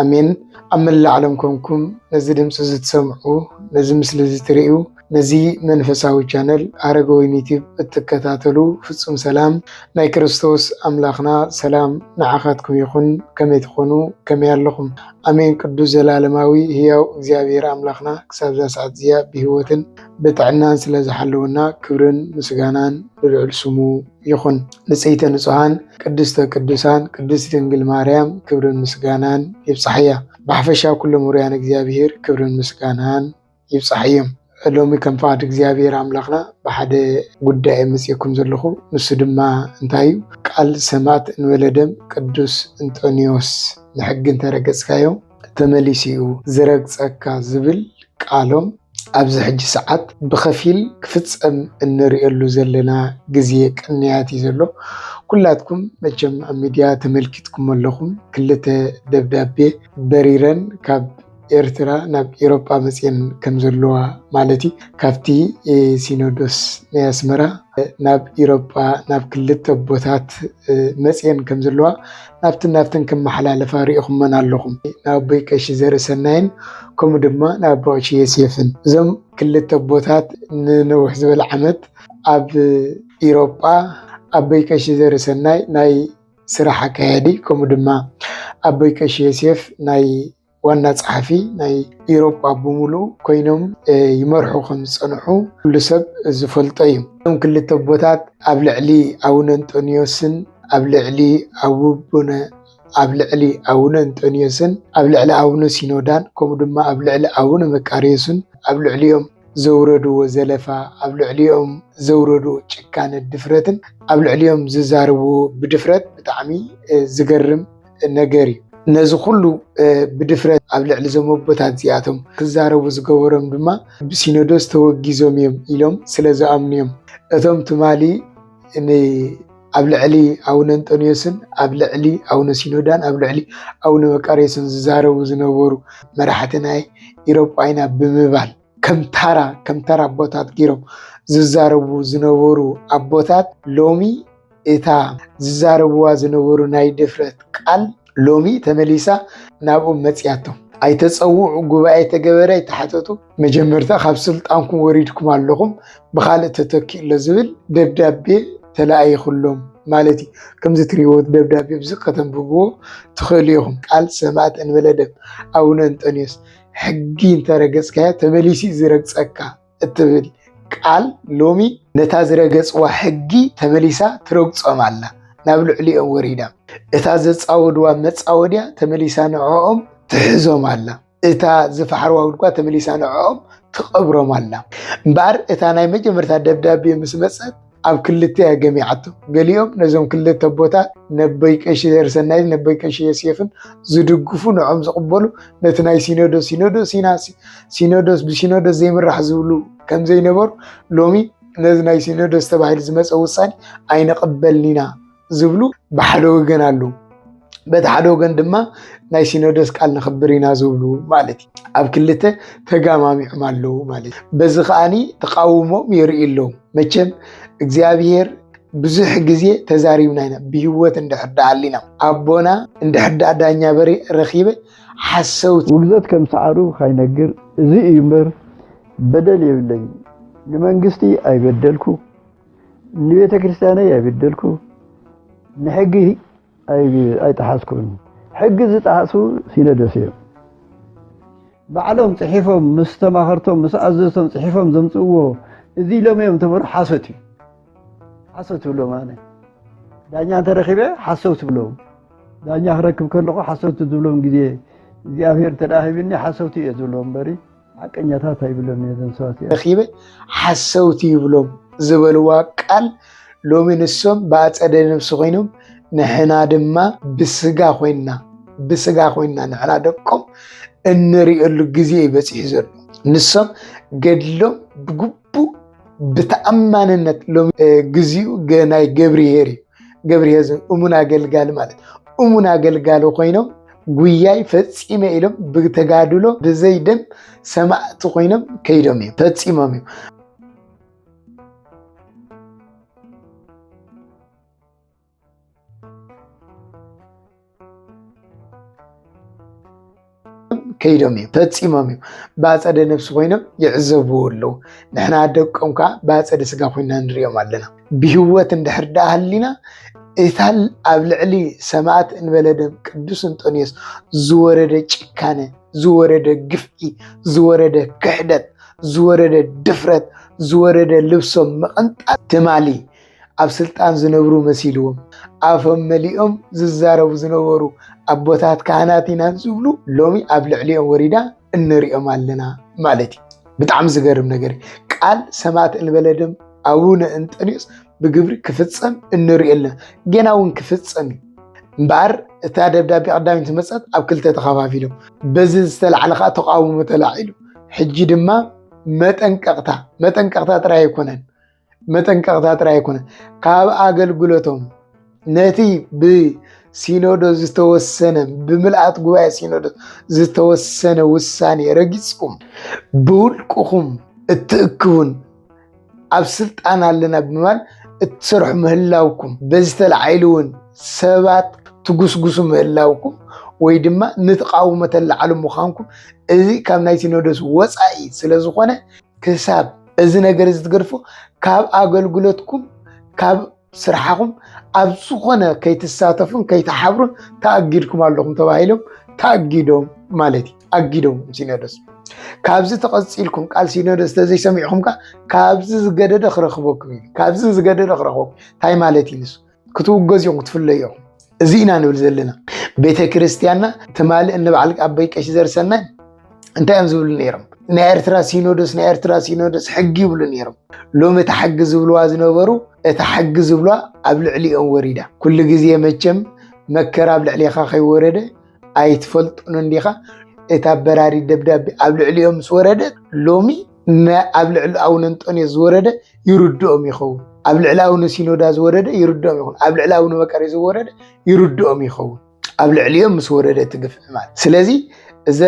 ኣሜን። ኣብ መላእ ዓለም ኮንኩም ነዚ ድምፂ እዚ ትሰምዑ፣ ነዚ ምስሊ እዚ ትርእዩ፣ ነዚ መንፈሳዊ ቻነል ኣረጋዊን ዩቲብ እትከታተሉ ፍፁም ሰላም ናይ ክርስቶስ ኣምላኽና ሰላም ንዓኻትኩም ይኹን። ከመይ ትኾኑ? ከመይ ኣለኹም? ኣሜን። ቅዱስ ዘላለማዊ ህያው እግዚኣብሔር ኣምላኽና ክሳብ እዛ ሰዓት እዚኣ ብህይወትን ብጥዕናን ስለ ዝሓለወና ክብርን ምስጋናን ንልዑል ስሙ ይኹን ንጽይተ ንጹሃን ቅድስተ ቅዱሳን ቅድስቲ ድንግል ማርያም ክብርን ምስጋናን ይብጻሕያ። ብሓፈሻ ኩሎም ውሩያን እግዚኣብሔር ክብርን ምስጋናን ይብጻሕዮም። ሎሚ ከም ፍቓድ እግዚኣብሔር ኣምላኽና ብሓደ ጉዳይ መጺእኩም ዘለኹ ንሱ ድማ እንታይ እዩ ቃል ሰማዕት እንበለ ደም ቅዱስ እንጦንዮስ ንሕጊ እንተረገጽካዮ ተመሊሱ እዩ ዝረግፀካ ዝብል ቃሎም ኣብዚ ሕጂ ሰዓት ብኸፊል ክፍፀም እንርእየሉ ዘለና ግዜ ቅንያት እዩ ዘሎ። ኩላትኩም መቸም ኣብ ሚድያ ተመልኪትኩም ኣለኹም። ክልተ ደብዳቤ በሪረን ካብ ኤርትራ ናብ ኤሮጳ መፅኤን ከም ዘለዋ ማለት እዩ ካብቲ ሲኖዶስ ናይ ኣስመራ ናብ ኤሮጳ ናብ ክልተ ኣቦታት መፅኤን ከም ዘለዋ ኣብትን ናብትን ክመሓላለፋ ርኢኹመን ኣለኹም፣ ንኣቦይ ቀሺ ዘርእሰናይን ከምኡ ድማ ንኣቦ ቀሺ ዮሴፍን። እዞም ክልተ ኣቦታት ንነውሕ ዝበለ ዓመት ኣብ ኢሮጳ ኣቦይ ቀሺ ዘርእሰናይ ናይ ስራሕ ኣካያዲ ከምኡ ድማ ኣቦይ ቀሺ ዮሴፍ ናይ ዋና ጸሓፊ ናይ ኢሮጳ ብምሉኡ ኮይኖም ይመርሑ ከም ዝጸንሑ ኩሉ ሰብ ዝፈልጦ እዩ። እቶም ክልተ ኣቦታት ኣብ ልዕሊ ኣቡነ እንጦንዮስን ኣብ ልዕሊ ኣቡነ ኣብ ልዕሊ ኣቡነ እንጦንዮስን ኣብ ልዕሊ ኣቡነ ሲኖዳን ከምኡ ድማ ኣብ ልዕሊ ኣቡነ መቃርዮስን ኣብ ልዕሊኦም ዘውረድዎ ዘለፋ ኣብ ልዕሊኦም ዘውረድዎ ጭካነ ድፍረትን ኣብ ልዕሊኦም ዝዛርብዎ ብድፍረት ብጣዕሚ ዝገርም ነገር እዩ። ነዚ ኩሉ ብድፍረት ኣብ ልዕሊ እዞም ኣቦታት እዚኣቶም ክዛረቡ ዝገበሮም ድማ ብሲኖዶስ ተወጊዞም እዮም ኢሎም ስለ ዝኣምኑ እዮም። እቶም ትማሊ ኣብ ልዕሊ ኣቡነ እንጦንዮስን ኣብ ልዕሊ ኣቡነ ሲኖዳን ኣብ ልዕሊ ኣቡነ መቃርዮስን ዝዛረቡ ዝነበሩ መራሕቲ ናይ ኢሮጳይና ብምባል ከም ታራ ከም ታራ ኣቦታት ገይሮም ዝዛረቡ ዝነበሩ ኣቦታት ሎሚ እታ ዝዛረብዋ ዝነበሩ ናይ ድፍረት ቃል ሎሚ ተመሊሳ ናብኦም መፅያቶም ኣይተፀውዑ ጉባኤ ተገበረ ኣይተሓተቱ መጀመርታ ካብ ስልጣንኩም ወሪድኩም ኣለኹም ብካልእ ተተኪኡ ኣሎ ዝብል ደብዳቤ ተለኣይኹሎም ማለት እዩ ከምዚ ትሪእዎ ደብዳቤ ብዚ ከተንብብዎ ትኽእሉ ኢኹም ቃል ሰማእት እንበለ ደም ኣቡነ እንጠንዮስ ሕጊ እንተረገፅካዮ ተመሊሱ እዩ ዝረግፀካ እትብል ቃል ሎሚ ነታ ዝረገፅዋ ሕጊ ተመሊሳ ትረግፆም ኣላ ናብ ልዕሊኦም ወሪዳ እታ ዘፃወድዋ መፃወድያ ተመሊሳ ንዕኦም ትሕዞም ኣላ እታ ዝፈሓርዋ ጉድጓ ተመሊሳ ንዕኦም ትቐብሮም ኣላ እምበኣር እታ ናይ መጀመርታ ደብዳቤ ምስ መፀት ኣብ ክልተ እያ ገሚዓቶ። ገሊኦም ነዞም ክልተ ኣቦታት ነበይ ቀሺ ዘርሰናይን ነበይ ቀሺ ዮሴፍን ዝድግፉ ንዖም ዝቕበሉ ነቲ ናይ ሲኖዶስ ሲኖዶስ ኢና ሲኖዶስ ብሲኖዶስ ዘይምራሕ ዝብሉ ከምዘይነበሩ ሎሚ ነዚ ናይ ሲኖዶስ ተባሂሉ ዝመፀ ውሳኔ ኣይንቕበልን ኢና ዝብሉ ብሓደ ወገን ኣለዉ። በቲ ሓደ ወገን ድማ ናይ ሲኖዶስ ቃል ንኽብር ኢና ዝብሉ ማለት እዩ ኣብ ክልተ ተጋማሚዖም ኣለዉ ማለት እዩ። በዚ ከዓኒ ተቃውሞም የርእዩ ኣለዉ። መቸም እግዚኣብሔር ብዙሕ ግዜ ተዛሪብና ኢና ብህይወት እንድሕር ደኣ ኣሊና ኣቦና እንድሕር ደኣ ዳኛ በሬ ረኺበ ሓሰውቲ ውግዘት ከም ሰዓሩ ካይነግር እዚ እዩ እምበር በደል የብለይን ንመንግስቲ ኣይበደልኩ ንቤተክርስትያነይ ኣይበደልኩ ንሕጊ ኣይጠሓስኩን ሕጊ ዝጠሓሱ ሲኖዶስ እዮም ባዕሎም ፅሒፎም ምስ ተማኸርቶም ምስ ኣዘዝቶም ፅሒፎም ዘምፅእዎ እዚ ኢሎም እዮም ተበሩ ሓሶት እዩ ሓሶት ትብሎም ኣነ ዳኛ እንተረኪበ ሓሰው ትብሎም ዳኛ ክረክብ ከለኹ ሓሰውቲ ዝብሎም ግዜ እግዚኣብሔር ተዳሂብኒ ሓሰውቲ እየ ዝብሎም በሪ ሓቀኛታት ኣይብሎምን እየ ዞም ሰባት እዚኦም። ረኺበ ሓሰውቲ ይብሎም ዝበልዋ ቃል ሎሚ ንሶም ብኣጸደ ነብሲ ኮይኖም ንሕና ድማ ብስጋ ኮይንና ብስጋ ኮይንና ንሕና ደቆም እንርእየሉ ግዜ እዩ በጺሑ ዘሎ ንሶም ገድሎም ብግቡእ ብተኣማንነት ሎሚ ግዚኡ ናይ ገብርሄር እዩ። ገብርሄር ዞም እሙን ኣገልጋሊ ማለት እሙን ኣገልጋሊ ኮይኖም ጉያይ ፈፂመ ኢሎም ብተጋድሎ ብዘይ ደም ሰማእቲ ኮይኖም ከይዶም እዮም ፈፂሞም እዮም። ከይዶም እዩ ፈፂሞም እዩ ብኣፀደ ነብሲ ኮይኖም ይዕዘብዎ ኣለዉ ንሕና ደቆም ከዓ ብኣፀደ ስጋ ኮይና ንሪኦም ኣለና ብህወት እንድሕር ደኣ ሃሊና እታ ኣብ ልዕሊ ሰማዕት እንበለ ደም ቅዱስ እንጦንዮስ ዝወረደ ጭካነ ዝወረደ ግፍዒ ዝወረደ ክሕደት ዝወረደ ድፍረት ዝወረደ ልብሶም ምቕንጣት ትማሊ ኣብ ስልጣን ዝነብሩ መሲልዎም ኣፎም መሊኦም ዝዛረቡ ዝነበሩ ኣቦታት ካህናት ኢና ዝብሉ ሎሚ ኣብ ልዕሊኦም ወሪዳ እንሪኦም ኣለና ማለት እዩ። ብጣዕሚ ዝገርም ነገር ቃል ሰማዕት እንበለ ደም ኣቡነ እንጠንዮስ ብግብሪ ክፍፀም እንሪኦ ኣለና። ገና እውን ክፍፀም እዩ። እምበኣር እታ ደብዳቤ ቀዳሚት መፀት ኣብ ክልተ ተኸፋፊሎም በዚ ዝተላዕለ ከዓ ተቃውሞ ተላዒሉ ሕጂ ድማ መጠንቀቕታ መጠንቀቕታ ጥራይ ኣይኮነን መጠንቀቕታ ጥራይ ኣይኮነ ካብ ኣገልግሎቶም ነቲ ብሲኖዶስ ዝተወሰነ ብምልኣት ጉባኤ ሲኖዶስ ዝተወሰነ ውሳኔ ረጊፅኩም ብውልቅኹም እትእክቡን ኣብ ስልጣን ኣለና ብምባል እትሰርሑ ምህላውኩም በዚ ተላዒሉ እውን ሰባት ትጉስጉሱ ምህላውኩም ወይ ድማ ንተቃውሞ ተላዓሉ ምዃንኩም እዚ ካብ ናይ ሲኖዶስ ወፃኢ ስለዝኾነ ክሳብ እዚ ነገር እዚ ትገድፎ ካብ ኣገልግሎትኩም ካብ ስራሕኹም ኣብ ዝኾነ ከይትሳተፉን ከይትሓብሩን ተኣጊድኩም ኣለኹም ተባሂሎም ተኣጊዶም ማለት እዩ ኣጊዶም ሲኖዶስ ካብዚ ተቐፂልኩም ቃል ሲኖዶስ ተዘይሰሚዕኹም ከዓ ካብዚ ዝገደደ ክረኽበኩም እዩ ካብዚ ዝገደደ ክረኽበኩም እንታይ ማለት እዩ ንሱ ክትውገዝ እዮም ክትፍለዩ እዮም እዚ ኢና ንብል ዘለና ቤተ ክርስትያንና ትማሊ እንበዓል ኣበይ ቀሺ ዘርሰናይ እንታይ እዮም ዝብሉ ነይሮም ናይ ኤርትራ ሲኖዶስ ናይ ኤርትራ ሲኖዶስ ሕጊ ይብሉ ነይሮም ሎሚ እቲ ሕጊ ዝብልዋ ዝነበሩ እቲ ሕጊ ዝብሏ ኣብ ልዕሊኦም ወሪዳ ኩሉ ግዜ መቸም መከራ ኣብ ልዕሊኻ ከይወረደ ኣይትፈልጡን እንዲኻ እታ በራሪ ደብዳቤ ኣብ ልዕሊኦም ምስ ወረደት ሎሚ ን ኣብ ልዕሊ ኣቡነ እንጦንዮስ ዝወረደ ይርድኦም ይኸውን ኣብ ልዕሊ ኣቡነ ሲኖዳ ዝወረደ ይርድኦም ይኹን ኣብ ልዕሊ ኣቡነ መቀሬ ዝወረደ ይርድኦም ይኸውን ኣብ ልዕሊኦም ምስ ወረደ እቲ ግፍዒ ማለት ስለዚ እዛ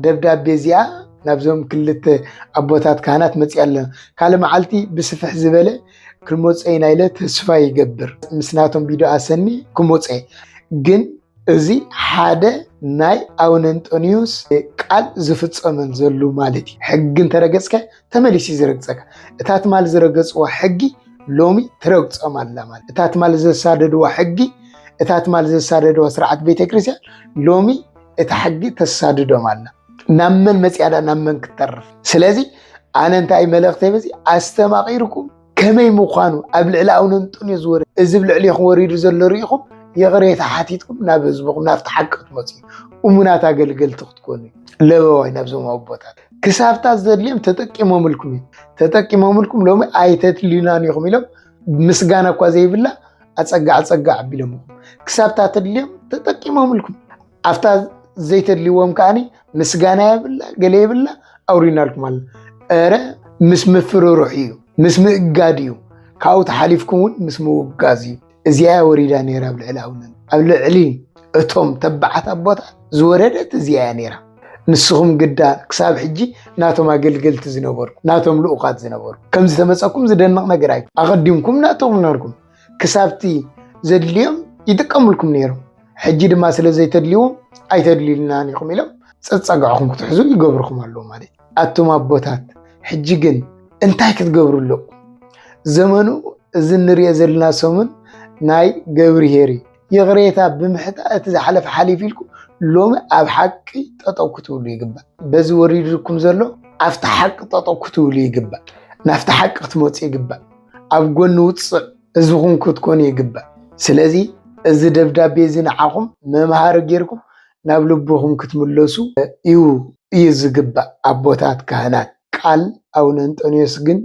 ደብዳቤ እዚኣ ናብዞም ክልተ ኣቦታት ካህናት መፅያ ኣለና ካልእ መዓልቲ ብስፍሕ ዝበለ ክመፀ ኢና ኢለ ተስፋ ይገብር ምስ ናቶም ቪድዮ ኣሰኒ ክመፀ ግን እዚ ሓደ ናይ ኣቡነ እንጦንዮስ ቃል ዝፍጸመል ዘሉ ማለት እዩ። ሕጊ እንተረገጽከ ተመሊሲ ዝረግጸካ እታ ትማል ዝረገጽዎ ሕጊ ሎሚ ትረግጾም ኣላ ማለት እታ ትማል ዘሳደድዎ ሕጊ እታ ትማል ዘሳደድዎ ስርዓት ቤተክርስትያን ሎሚ እታ ሕጊ ተሳድዶም ኣላ። ናብ መን መጽያዳ ናብ መን ክትተርፍ። ስለዚ ኣነ እንታይ መልእኽተይ በዚ ኣስተማቒርኩም ከመይ ምዃኑ ኣብ ልዕሊ ኣውነንጡን እዩ ዝወርድ እዚ ብ ልዕሌኹም ወሪዱ ዘሎ ርኢኹም ይቕሬታ ሓቲትኩም ናብ ህዝብኹም ናብቲ ሓቂ ክትመፁ እሙናት ኣገልገልቲ ክትኮኑ ለበዋይ ናብዞም ኣቦታት ክሳብታ ዘድልዮም ተጠቂሞምልኩም እዩ ተጠቂሞምልኩም ሎሚ ኣይተትልዩናን ኢኹም ኢሎም ምስጋና እኳ ዘይብላ ኣፀጋዕ ፀጋዕ ኣቢሎምኹም ክሳብታ ተድልዮም ተጠቂሞምልኩም ኣብታ ዘይተድልዎም ከዓኒ ምስጋና የብላ ገለ የብላ ኣውሪናልኩም ኣለ እረ ምስ ምፍርርሑ እዩ ምስ ምእጋድ እዩ ካብኡ ተሓሊፍኩም እውን ምስ ምውጋዝ እዩ እዚኣ ወሪዳ ነይራ ኣብ ልዕሊ ኣቡነ ኣብ ልዕሊ እቶም ተባዓት ኣቦታት ዝወረደት እዚኣ እያ ነይራ ንስኹም ግዳ ክሳብ ሕጂ ናቶም ኣገልገልቲ ዝነበርኩም ናቶም ልኡኻት ዝነበርኩም ከም ዝተመፀኩም ዝደንቕ ነገር ኣይ ኣቐዲምኩም ናቶም ናርኩም ክሳብቲ ዘድልዮም ይጥቀምልኩም ነይሮም ሕጂ ድማ ስለ ዘይተድልዎም ኣይተድልዩልናን ኢኹም ኢሎም ፀፀግዕኹም ክትሕዙ ይገብርኹም ኣለዉ ማለት እዩ ኣቱም ኣቦታት ሕጂ ግን እንታይ ክትገብሩ ኣለኹም ዘመኑ እዚ እንሪኦ ዘለና ሰሙን ናይ ገብርሄር እዩ ይቕሬታ ብምሕታ እቲ ዝሓለፈ ሓሊፍ ኢልኩም ሎሚ ኣብ ሓቂ ጠጠው ክትብሉ ይግባእ በዚ ወሪድኩም ዘሎ ኣብቲ ሓቂ ጠጠው ክትብሉ ይግባእ ናብቲ ሓቂ ክትመፁ ይግባእ ኣብ ጎኒ ውፅዕ ህዝብኹም ክትኮኑ ይግባእ። ስለዚ እዚ ደብዳቤ እዚ ንዓኹም መምሃሪ ጌርኩም ናብ ልብኹም ክትምለሱ እዩ እዩ ዝግባእ ኣቦታት ካህናት። ቃል ኣቡነ እንጦንዮስ ግን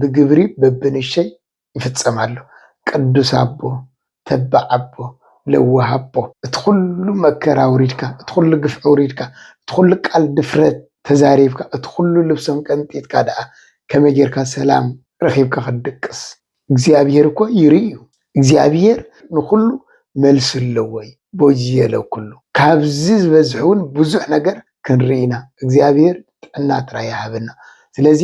ብግብሪ በብንሸይ ይፍፀም ኣሎ። ቅዱስ ኣቦ ተባዕ ኣቦ ለዋህ ኣቦ እቲ ኩሉ መከራ ኣውሪድካ እቲ ኩሉ ግፍዒ ኣውሪድካ እቲ ኩሉ ቃል ድፍረት ተዛሪብካ እቲ ኩሉ ልብሶም ቀንጢጥካ ደኣ ከመይ ጌርካ ሰላም ረኺብካ ክትድቅስ እግዚኣብሄር እኮ ይርኢ እዩ እግዚኣብሄር ንኹሉ መልሲ ኣለዎ እዩ ቦዝየ ለኩሉ ካብዚ ዝበዝሕ ውን ብዙሕ ነገር ክንርኢ ኢና እግዚኣብሄር ጥዕና ጥራይ ይሃበና ስለዚ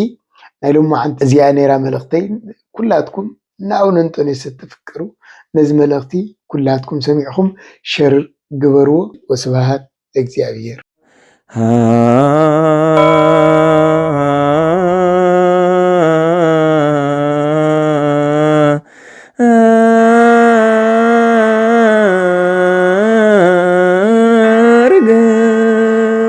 ናይ ሎምዓንቲ እዚኣ ኔራ መልእኽተይ ኩላትኩም ናኡ ነንጦንዮስ እትፍቀሩ ነዚ መልእኽቲ ኩላትኩም ሰሚዕኹም ሸር ግበርዎ ወስብሃት ለእግዚኣብሔር።